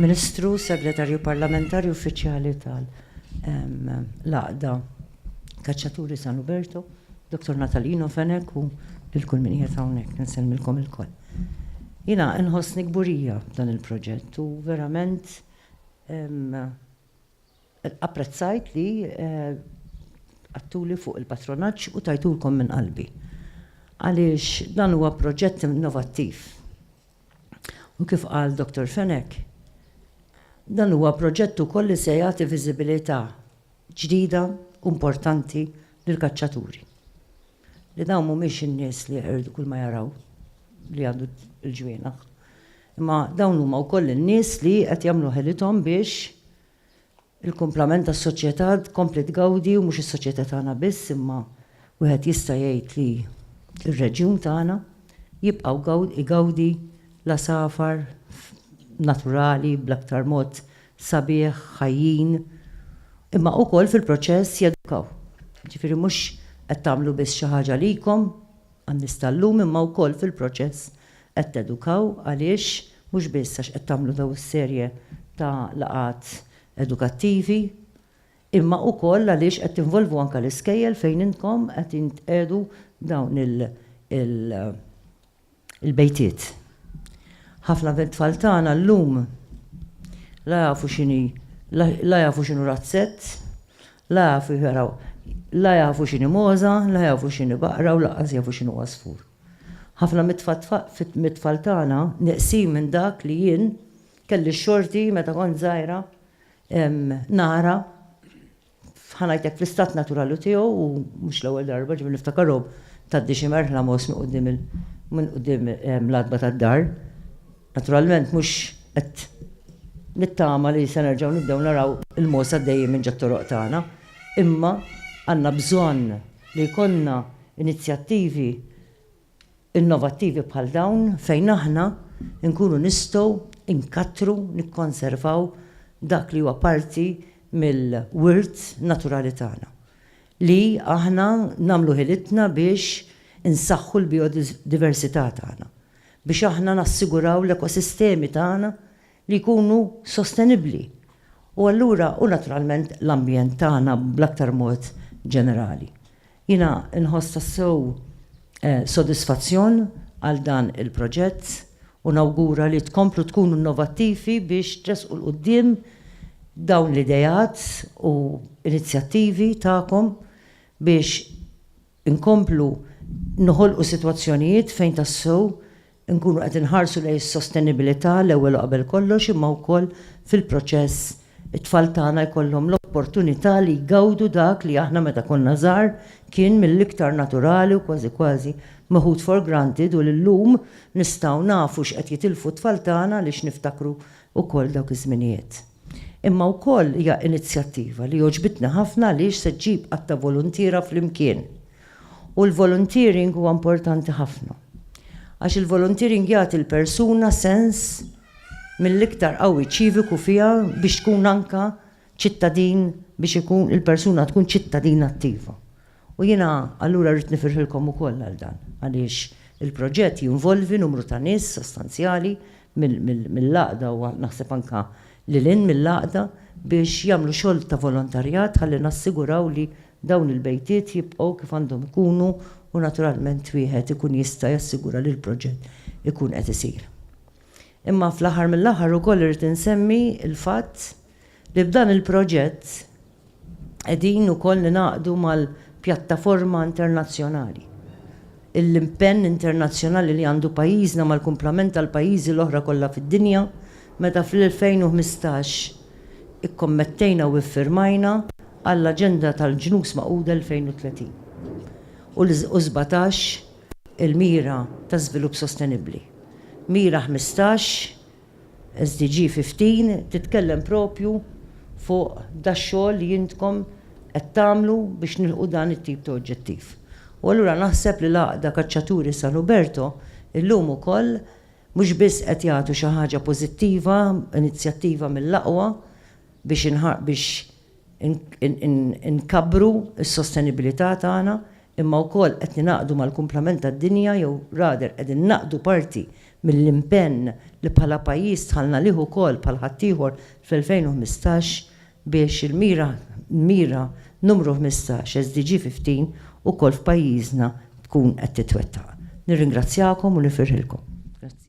Ministru, Segretarju Parlamentari Uffiċjali tal-Laqda Kaċċaturi San Uberto, Dr. Natalino Fenek u l-kull min qiegħed hawnhekk nsellmilkom ilkoll. Jiena nħossni kburija dan il-proġett u verament Apprezzajt li għadtuli fuq il-patronaġġ u tajtulkom minn qalbi għaliex dan huwa proġett innovattiv. U kif qal Dottor Fenech, dan huwa proġett ukoll li se jagħti viżibilità ġdida u importanti lill-kaċċaturi, li dawn mhumiex in-nies li jeqirdu kull ma jaraw li għandu l-ġwienaħ. Imma dawn huma wkoll in-nies li qed jagħmlu ħelithom biex il-kumplament tas-soċjetà tkompli tgawdi u mhux is-soċjetà tagħna biss imma wieħed jista' jgħid li r-reġjun tagħna jibqgħu igawdi l-għasafar naturali bl-aktar mod sabiħ, ħajjin, imma wkoll fil-proċess jedukaw. Jiġifieri mhux qed tagħmlu biss xi ħaġa għalikom, Għan-nies tal-lum imma wkoll fil-proċess qed tedukaw għaliex mhux biss għax qed tagħmlu dawn is-serje ta' laqgħat edukattivi imma wkoll għaliex qed tinvolvu anke l-iskejjel fejn intkom qed jintqiegħdu dawn il-bejtiet. Ħafna mit-tfal tagħna llum la jafu x'inhi la jafu x'inhu razzett, La jafu jaraw, la jafu x'inhi mogħża, la jafu x'inhi baqra u lanqas jafu x'inhu għasfur. Ħafna mit-tfal tagħna nieqsin minn dak li jien kelli x-xorti meta kont żgħira nara, ħa ngħidlek fl-istat naturali tiegħu u mhux l-ewwel darba ġifieri niftakarhom tgħaddi xi merħla mogħoż minn quddiem l-għatba tad-dar. Naturalment mhux qed nittama li se nerġgħu nibdew naraw il-mogħoż għaddejjin minn ġat-toroq tagħna, imma għandna bżonn li jkollna inizjattivi innovattivi bħal dawn fejn aħna nkunu nistgħu nkattru, nikkonservaw dak li huwa parti mill-wirt naturali tagħna. Li aħna nagħmlu ħilitna biex insaħħu l-bijodiversità tagħna. biex aħna nassiguraw l-ekosistemi tagħna li jkunu sostenibbli u allura u naturalment l-ambjent tagħna bl-aktar mod ġenerali. Jiena nħoss tassew sodisfazzjon għal dan il-proġett u nawgura li tkomplu tkunu innovattivi biex tressqu 'l quddiem dawn l-ideat u inizjattivi tagħkom biex inkomplu noħolqu sitwazzjonijiet fejn tassew inkunu qed inħarsu lejn is-sostenibilità l-ewwel u qabel kollox imma wkoll fil-proċess it-tfal tagħna jkollhom l-opportunità li jgawdu dak li aħna meta konna żgħar kien mill-iktar naturali u kważi kważi meħud for granted u li llum nistgħu nafu x'qed jitilfu t-tfal tagħna għaliex niftakru wkoll dawk iż-żminijiet. Imma wkoll hija inizjattiva li għoġbitni ħafna għaliex se ġġib għadd ta' voluntiera flimkien. U l-volunteering huwa importanti ħafna. Għax il-volunteering jagħti l-persuna sens mill-iktar qawwi ċiviku fiha biex tkun anke ċittadin biex ikun il-persuna tkun ċittadin attiva. U jiena allura rrid nifirħilkom ukoll għal dan, għaliex il-proġett jinvolvi numru ta' nies sostanzjali mill-Għaqda u naħseb anke lil hinn mill-Għaqda biex jagħmlu xogħol ta' volontarjat ħalli nassiguraw li dawn il-bejtiet jibqgħu kif għandhom ikunu u naturalment wieħed ikun jista' jassigura li l-proġett ikun qed isir. Imma fl-aħħar mill-aħħar ukoll irrid insemmi l-fatt, li b'dan il-proġett qegħdin ukoll ningħaqdu mal-pjattaforma internazzjonali. Il-impenn internazzjonali li għandu pajjiżna mal-kumplament tal-pajjiżi l-oħra kollha fid-dinja meta fl-2015 ikkommettejna u iffirmajna għall-Aġenda tal-Ġnus Magħquda 2030 u sbatax il-Mira ta' Żvilupp Sostenibbli, Mira Ħmistax, SDG 15 titkellem propju fuq dax-xogħol li intkom qed tagħmlu biex nilħqu dan it-tip ta' oġġettiv. U allura naħseb li l-Għaqda Kaċċaturi San Uberto illum ukoll mhux biss qed jagħtu xi ħaġa pożittiva, inizjattiva mill-aqwa biex biex, inkabbru s-sostenibilità tagħna imma wkoll qed ningħaqdu mal-kumplament tad-dinja jew rather qegħdin naqdu parti mill-impenn li bħala pajjiż dħalna lih ukoll bħal ħaddieħor fl-2015 biex il-mira l-mira numru ħmistax, SDG 15, ukoll f'pajjiżna tkun qed titwettaq. Nirringrazzjakom u nifirħilkom. Grazzi.